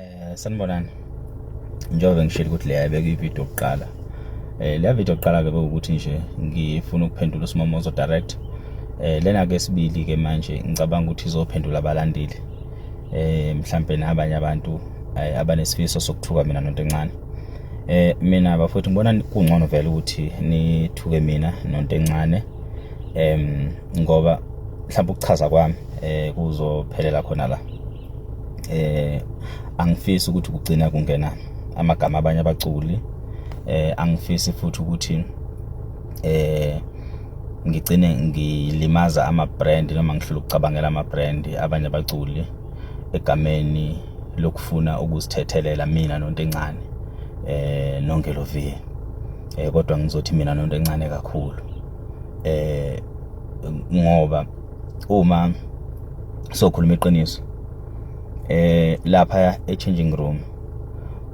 Eh sanibonani. Njengoba ngishilo ukuthi leya beke ivideo yokuqala. Eh leya video yokuqala ke ukuthi nje ngifuna ukuphendula uSimomozo direct. Eh lena ke sibili ke manje ngicabanga ukuthi izophendula abalandeli. Eh mhlambe nabanye abantu eh, abanesifiso sokuthuka mina nonto encane. Eh mina bafowethu ngibona kungcono vele ukuthi nithuke mina nonto encane. Em ngoba mhlawumbe ukuchaza kwami eh kuzophelela khona la. eh angifisi ukuthi kugcina kungena amagama abanye abaculi eh angifisi futhi ukuthi eh ngigcine ngilimaza ama-brand noma ngihlula ukucabangela ama-brand abanye abaculi egameni lokufuna ukuzithethelela mina nonto encane eh nonke lo vie eh kodwa ngizothi mina nonto encane kakhulu eh ngoba uma sokhuluma iqiniso eh lapha e changing room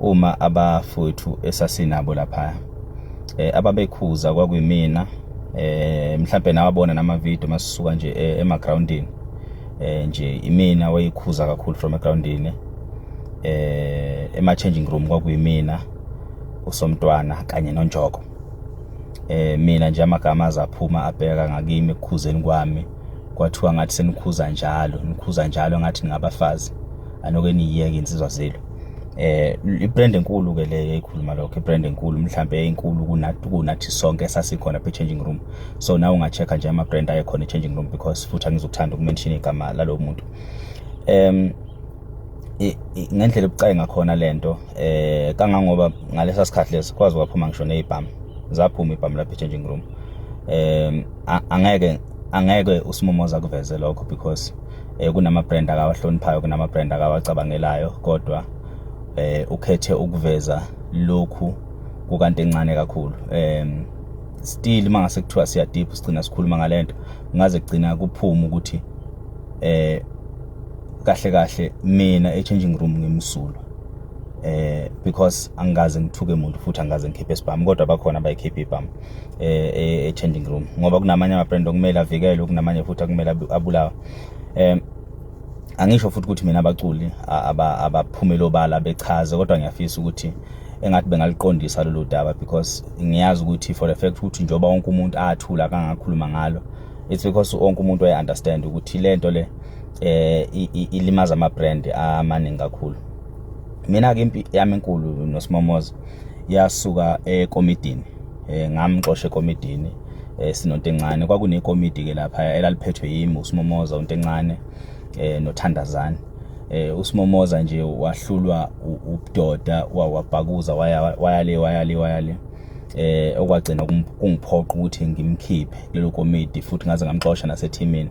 uma abafowethu esasinabo lapha eh ababekhuza kwakuyimina eh mhlawumbe nawabona nama video masisuka nje eh, ema groundini eh nje imina wayikhuza kakhulu from egroundini eh ema changing room kwakuyimina usomntwana kanye nonjoko eh mina nje amagama azaphuma abheka ngakimi ekukhuzeni kwami kwathiwa ngathi senikhuza njalo nikhuza njalo ngathi ningabafazi anoke niyiyeke insizwa zelo eh ibrand enkulu ke le ekhuluma lokho ibrand enkulu mhlambe enkulu kunathi kunathi sonke sasikhona phe changing room so nawe ungachecka nje ama brand ayekhona e changing room because futhi angizokuthanda ukumention igama lalowo muntu em ngendlela ebucayi ngakhona lento eh kangangoba ngalesa sikhathi lesi kwazi kwaphuma ngisho nezibhamu zaphuma ibhamu lapha changing room um angeke angeke usimomoza kuveze lokho because eh kunama brand akawahloniphayo kunama brand akawacabangelayo kodwa eh ukhethe ukuveza lokhu kukanti encane kakhulu um still uma ngase kuthiwa siya deep sigcina sikhuluma ngalento ngaze kugcina kuphuma ukuthi eh kahle kahle mina e-changing room ngimsulwa eh because angikaze ngithuke muntu futhi angikaze ngikhiphe isibhamu kodwa bakhona abayikhiphe ibhamu eh, eh e-changing room ngoba kunamanye ama-brand okumele avikelwe kunamanye futhi akumele abulawa um angisho futhi ukuthi mina abaculi abaphumele obala bechaze kodwa ngiyafisa ukuthi engathi bengaliqondisa lolu daba because ngiyazi ukuthi for the fact ukuthi njengoba wonke umuntu athula kangakhuluma ngalo it's because wonke umuntu waye-understand ukuthi le nto le eh ilimaza ama brand amaningi kakhulu mina ke impi yami enkulu nosimomoza yasuka ekomidini eh ngamxosha ekomidini eh sinontencane kwakunekomidi ke lapha elaliphethwe yimi usimomoza untencane eh nothandazani eh usimomoza nje wahlulwa ubudoda wawabhakuza waya waya le waya le waya le eh okwagcina kungiphoqa ukuthi ngimkhiphe kulelo komidi futhi ngaze ngamxosha nasethimini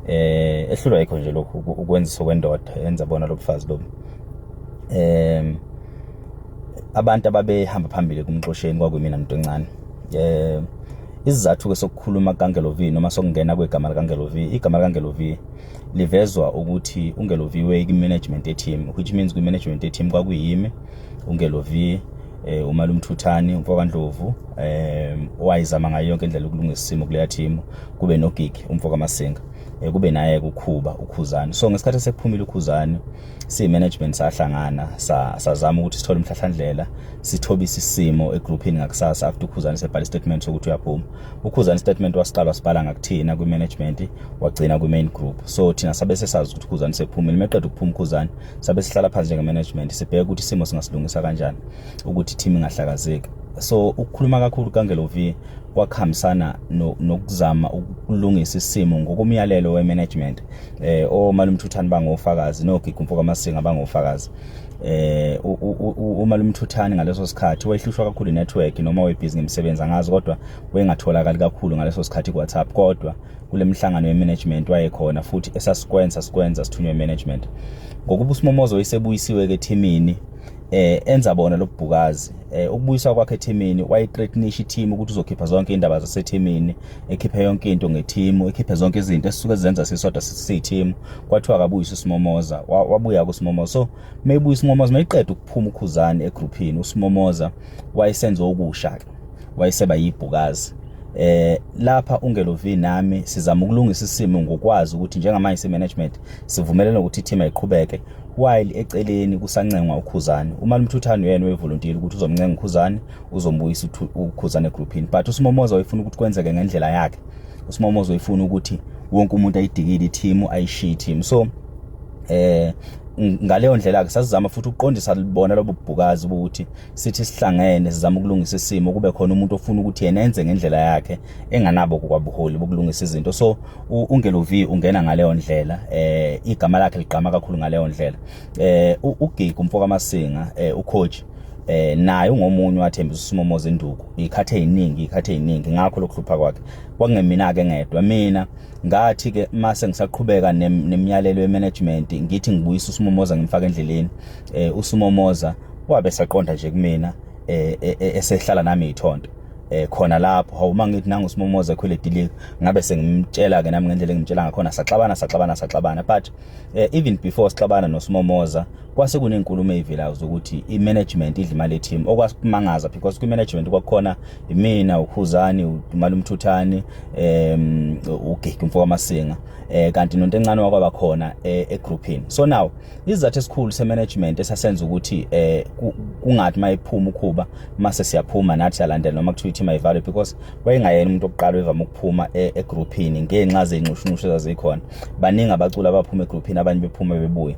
eh ehlulwa yikho nje lokhu ukwenzisa kwendoda yenza bona lobufazi lobu em abantu ababehamba phambili kumxosheni kwakuyimina muntu encane eh isizathu ke sokukhuluma kaNgelovi noma sokungena kwegama likaNgelovi igama likaNgelovi livezwa ukuthi uNgelovi we management yeteam which means kwi management yeteam kwakuyimi uNgelovi eh umalumthuthani umfowandlovu eh wayizama ngayo yonke indlela ukulungisa isimo kuleya team kube nogigi umfo kamasinga eh, kube naye kukhuba ukhuzani so ngesikhathi sekuphumile ukhuzani siyi-management sahlangana sazama ukuthi sithole umhlahlandlela sithobise isimo egruphini ngakusasa after ukhuzani sebhala istatement sokuthi uyaphuma ukhuzani istatement wasiqala wasibhala ngakuthina kwi-management wagcina kwi-main group so thina sabe sesazi ukuthi ukhuzani sephumile meqeda ukuphuma ukhuzani sabe sihlala phansi njenge-management sibheke ukuthi isimo singasilungisa kanjani ukuthi i-team ingahlakazeki so ukukhuluma kakhulu kangelovi kwakuhambisana nokuzama ukulungisa isimo ngokomyalelo we-management eh omalumthuthani bangofakazi nogigu mfoka masinga bangofakazi eh uma lumthuthani ngaleso sikhathi wayehlushwa kakhulu network noma webhizi ngemisebenzi angazi kodwa wengatholakali kakhulu ngaleso sikhathi kuWhatsApp kodwa kulemihlangano yemanagement wayekhona futhi esasikwenza sikwenza sithunywe management ngokuba uSimomozo isebuyisiwe ke ethimini eh enza bona lobubhukazi eh ukubuyisa kwakhe ethimini wayethreatnisha iteam ukuthi uzokhipha zonke indaba zasethimini ekhiphe yonke into ngeteam ekhiphe zonke izinto esisuke zenza sisodwa sisiteam kwathiwa akabuyisa usimomoza wabuya kusimomoza so maybe usimomoza mayiqeda ukuphuma ukhuzani egroupini usimomoza wayesenza okusha ke wayeseba yibhukazi eh lapha ungelovi nami sizama ukulungisa isimo ngokwazi ukuthi njengamanje se management sivumelene ukuthi i team ayiqhubeke while eceleni kusancengwa uKhuzani uMali Mthuthani uyena wevolontile ukuthi uzomncenga uKhuzani uzombuyisa uKhuzani egroupini but uSimomoza wayefuna ukuthi kwenzeke ngendlela yakhe uSimomoza wayefuna ukuthi wonke umuntu ayidikile i-team ayishiye i-team so eh ngaleyo ndlela-ke sasizama futhi ukuqondisa bona lobo bhukazi ukuthi sithi sihlangene sizama ukulungisa isimo kube khona umuntu ofuna ukuthi yena enze ngendlela yakhe enganabo kwabuholi bokulungisa izinto so ungelo V ungena ngaleyo ndlela eh igama lakhe ligqama kakhulu ngaleyo ndlela eh ugiga umfoka masinga eh ucoach eh naye ungomunye wathembisa usimomo zenduku ikhathe eziningi ikhathe eziningi ngakho lokuhlupha kwakhe kwakungemina ke ngedwa mina ngathi ke mase ngisaqhubeka nemiyalelo yemanagement ngithi ngibuyisa usimomoza ngimfaka endleleni eh usimomoza wabe saqonda nje kumina eh, eh, eh, esehlala nami ithonto eh khona lapho hawu uma ngithi nangu simomoze ekhwele dilika ngabe sengimtshela ke nami ngendlela engimtshela ngakhona saxabana saxabana saxabana but eh, even before sixabana nosimomoza kwase kunenkulumo eyivelayo zokuthi imanagement idla imali team okwasimangaza because kwi management kwakhona imina ukhuzani uDumala umthuthani em ugigi umfoka masinga eh kanti nonto encane wakwaba khona eh, e groupini so now Isizathu esikhulu semanagement esasenza ukuthi eh kungathi mayiphuma ukhuba mase siyaphuma nathi yalandela noma kuthiwa ithi mayivalwe because wayengayena umuntu oqala evama ukuphuma e, egroupini ngenxa zenxushunxushu ezazikhona baningi abaculi abaphuma egroupini abanye bephuma bebuye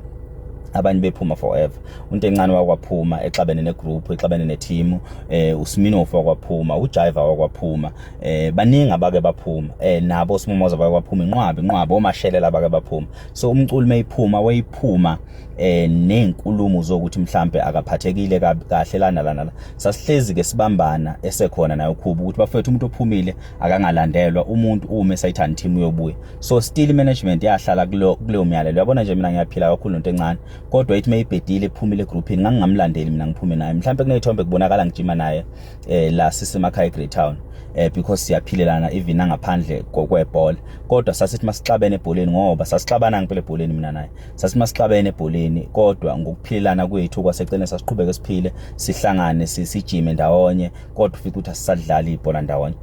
abanye bephuma forever untencane wakwaphuma exabene negroup exabene neteam eh usminofu wakwaphuma ujiva wakwaphuma eh baningi abake baphuma eh nabo simomoza bakwaphuma inqwabi inqwabi omashelela abake baphuma so umculi mayiphuma wayiphuma eh nezinkulumo zokuthi mhlambe akaphathekile kahle lana lana sasihlezi ke sibambana esekhona nayo ukhubu ukuthi bafethu umuntu ophumile akangalandelwa umuntu ume sayithanda team uyobuya so still management yahlala kulo kuleyo myalelo yabona nje mina ngiyaphila kakhulu into encane kodwa ithi mayibhedile iphumile egroupini ngangingamlandeli mina ngiphume naye mhlambe kunezithombe kubonakala ngijima naye eh la sisemakhaya eGreytown eh because siyaphilelana even angaphandle kokwebhola kodwa sasithi masixabene ebholeni ngoba sasixabana ngempela ebholeni mina naye sasithi masixabene ebholeni kodwa ngokuphilelana kwethu kwaseceleni sasiqhubeke siphile sihlangane sijime ndawonye kodwa ufike ukuthi asisadlali ibhola ndawonye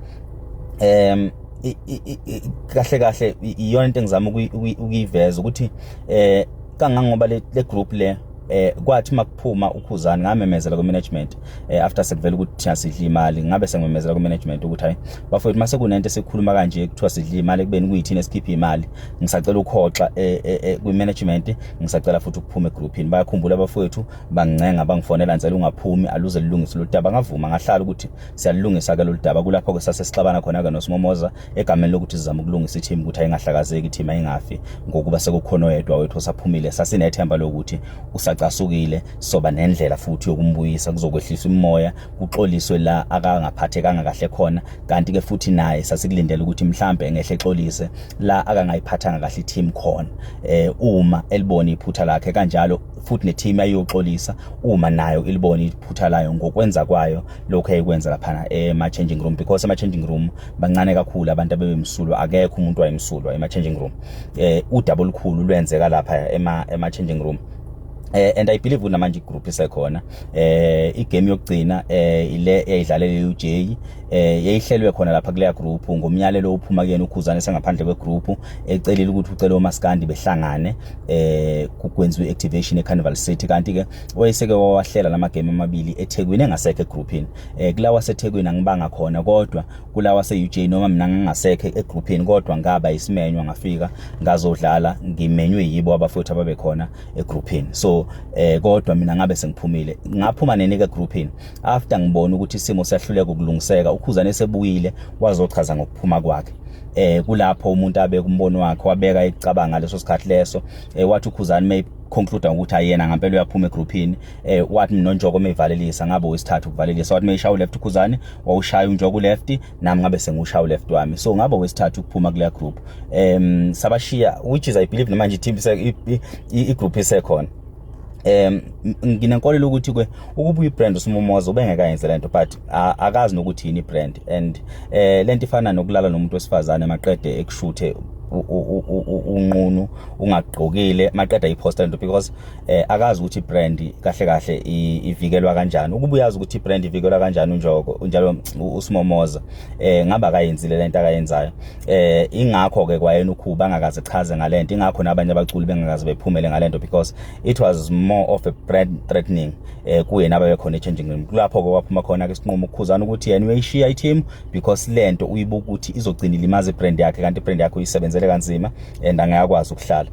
um kahle kahle iyona into engizama ukuyiveza ukuthi eh kangangoba le group le eh kwathi makuphuma ukhuzani ngamemezela ku management eh after sekuvela ukuthi thina sidla imali ngabe sengimemezela ku management ukuthi hayi bafowethu mase kunento esikhuluma kanje kuthiwa sidla imali kubeni kuyithina esikhipha imali ngisacela ukhoxa eh, eh, eh, kwi management ngisacela futhi ukuphuma egroupini bayakhumbula bafowethu bangincenga bangifonela ngicela ungaphumi aluze lilungise loludaba ngavuma ngahlala ukuthi siyalungisa ke loludaba kulapho ke sase sixabana khona ke nosimomoza egameni lokuthi sizama ukulungisa i-team ukuthi ayingahlakazeki i-team ayingafi ngokuba sekukhona oyedwa wethu osaphumile sasinethemba lokuthi usacasukile soba nendlela futhi yokumbuyisa kuzokwehlisa umoya kuxoliswe la akangaphathekanga kahle khona kanti-ke futhi naye sasikulindele ukuthi mhlampe engehle exolise la akangayiphathanga kahle i-team khona eh uma elibona iphutha lakhe kanjalo futhi ne-team ayiyoxolisa uma nayo ilibona iphutha layo ngokwenza kwayo lokho eyikwenza laphana ema-changing room because ema-changing room bancane kakhulu abantu abebemsulwa akekho umuntu wayemsulwa ema changing room eh udaba olukhulu lwenzeka lapha ema ema changing room Eh and I believe kunamanje igroup isekhona eh igame yokugcina eh ile eyidlalele uJ eh yayihlelwe khona lapha kuleya group ngomyalelo ophuma kuyena ukhuzane sengaphandle kwe group ecelile ukuthi ucela omaskandi behlangane eh kukwenziwe activation eCarnival City kanti ke oyeseke wawahlela lama game amabili eThekwini engasekho egroupini eh kulawa seThekwini angibanga khona kodwa kulawa seUJ noma mina ngingasekho egrouphini kodwa ngaba isimenywa ngafika ngazodlala ngimenywe yibo abafowethu ababe khona egrouphini so eh kodwa mina ngabe sengiphumile ngaphuma nenike egrouphini after ngibona ukuthi isimo siyahluleka ukulungiseka ukhuzane sebuyile wazochaza ngokuphuma kwakhe eh kulapho umuntu abe kumbono wakhe wabeka icabanga leso sikhathi leso eh wathi ukhuzani may conclude ukuthi ayena ngempela uyaphuma egrouphini eh wathi nonjoko mevalelisa ngabe wesithathu kuvalelisa wathi meyishawa uleft khuzani wawushaya unjoko uleft nami ngabe sengushaya uleft wami so ngabe wesithathu kuphuma kule group um sabashiya which is i believe namanje iteam i group isekhona um nginenkolelo ukuthi ke ukuba uyibrand usimumoza ubengekayenze lento but akazi nokuthi yini ibrand and eh lento ifana nokulala nomuntu wesifazane maqede ekushuthe unqunu ungagqokile maqeda iposta lento because eh akazi ukuthi brand kahle kahle ivikelwa kanjani ukuba uyazi ukuthi brand ivikelwa kanjani unjoko unjalo usimomoza eh ngaba akayenzile lento akayenzayo eh ingakho ke kwayena ukhuba angakaze chaze ngalento ingakho nabanye abaculi bengakaze bephumele ngalento because it was more of a brand threatening eh kuyena ababe khona changing room kulapho ke waphuma khona ke sinqumo ukukhuzana ukuthi yena uyishiya i team because lento uyibuka ukuthi izogcina ilimaza brand yakhe kanti brand yakhe uyisebenzele kanzima and angayakwazi ukuhlala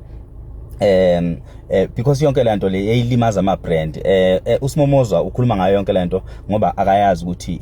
um eh because yonke lento le eyilimaza ama brand eh, eh usimomozwa ukhuluma ngayo yonke lento ngoba akayazi ukuthi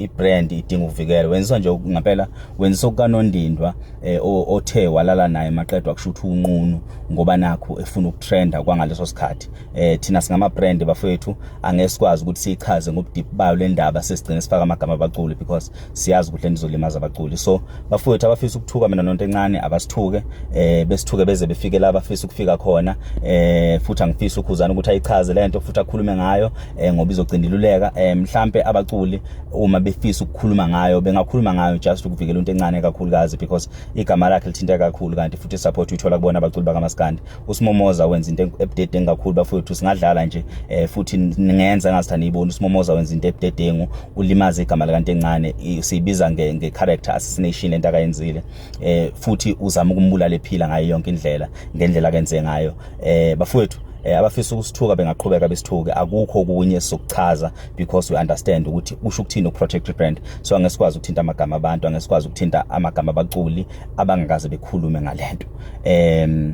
i brand idinga ukuvikela wenza nje ngempela wenza okukanondindwa eh othe walala naye maqedwa kusho ukuthi unqunu ngoba nakho efuna ukutrenda kwangaleso sikhathi eh thina singama brand bafethu angesikwazi ukuthi sichaze ngobudip bayo lendaba sesigcina sifaka amagama abaculi because siyazi ukuthi lento izolimaza abaculi so bafowethu abafisa ukuthuka mina nonto encane abasithuke eh besithuke beze befike la bafisa ukufika khona eh futhi angifisa ukhuzana ukuthi ayichaze lento futhi akhulume ngayo eh ngoba izogcindiluleka eh mhlambe abaculi uma befisa ukukhuluma ngayo bengakhuluma ngayo just ukuvikela into encane kakhulukazi because igama lakhe lithinta kakhulu kanti futhi support uyithola kubona abaculi bakamaskandi uSimomoza wenza into ebudedengu kakhulu bafowethu singadlala nje eh, futhi ningenza ngathi aniyiboni uSimomoza wenza into ebudedengu ulimaza igama lakanti encane siyibiza nge, nge character assassination lento akayenzile eh, futhi uzama ukumbulala ephila ngayo yonke indlela ngendlela akenze ngayo eh, bafowethu eh, abafisa ukusithuka bengaqhubeka besithuke akukho kunye sokuchaza because we understand ukuthi usho ukuthini ukuprotect brand so angesikwazi ukuthinta amagama abantu angesikwazi ukuthinta amagama abaculi abangakaze bekhulume ngalento em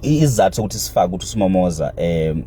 izathu sokuthi sifake ukuthi uSimomoza em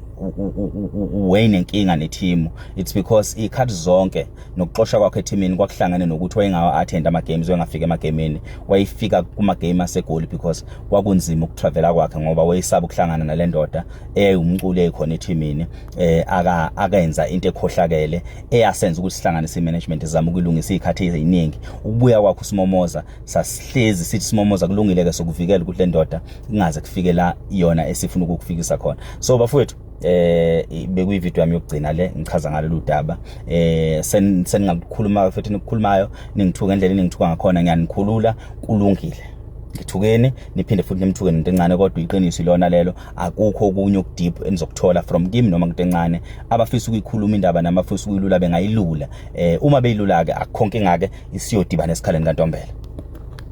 uwayne inkinga nethimu it's because ikhathi zonke nokuxosha kwakhe ethimini kwakuhlangene nokuthi wayengawa attend ama games wayengafika ema gameni wayefika kuma game asegoli because kwakunzima ukutravela kwakhe ngoba wayesaba ukuhlangana nalendoda eyumculi ekhona ethimini eh aka akenza into ekhohlakele eyasenza ukuthi sihlanganise imanagement izama ukulungisa izikhathi eziningi ukubuya kwakho simomoza sasihlezi sithi simomoza kulungile ke sokuvikela ukuthi lendoda ingaze kufike la yona esifuna ukukufikisa khona so bafowethu eh bekuyi video yami yokugcina le ngichaza ngalolu daba eh seningakukhuluma futhi nikukhulumayo ningithuka endlela eningithuka ngakhona ngiyanikhulula kulungile ngithukeni niphinde futhi nimthuke nento encane kodwa iqiniso ilona lelo akukho okunye okudeep enizokuthola from kim noma into encane abafisa ukuyikhuluma indaba nami abafisa ukuyilula bengayilula eh uma beyilula ke akukho nkinga ke isiyodibana esikhaleni kantombela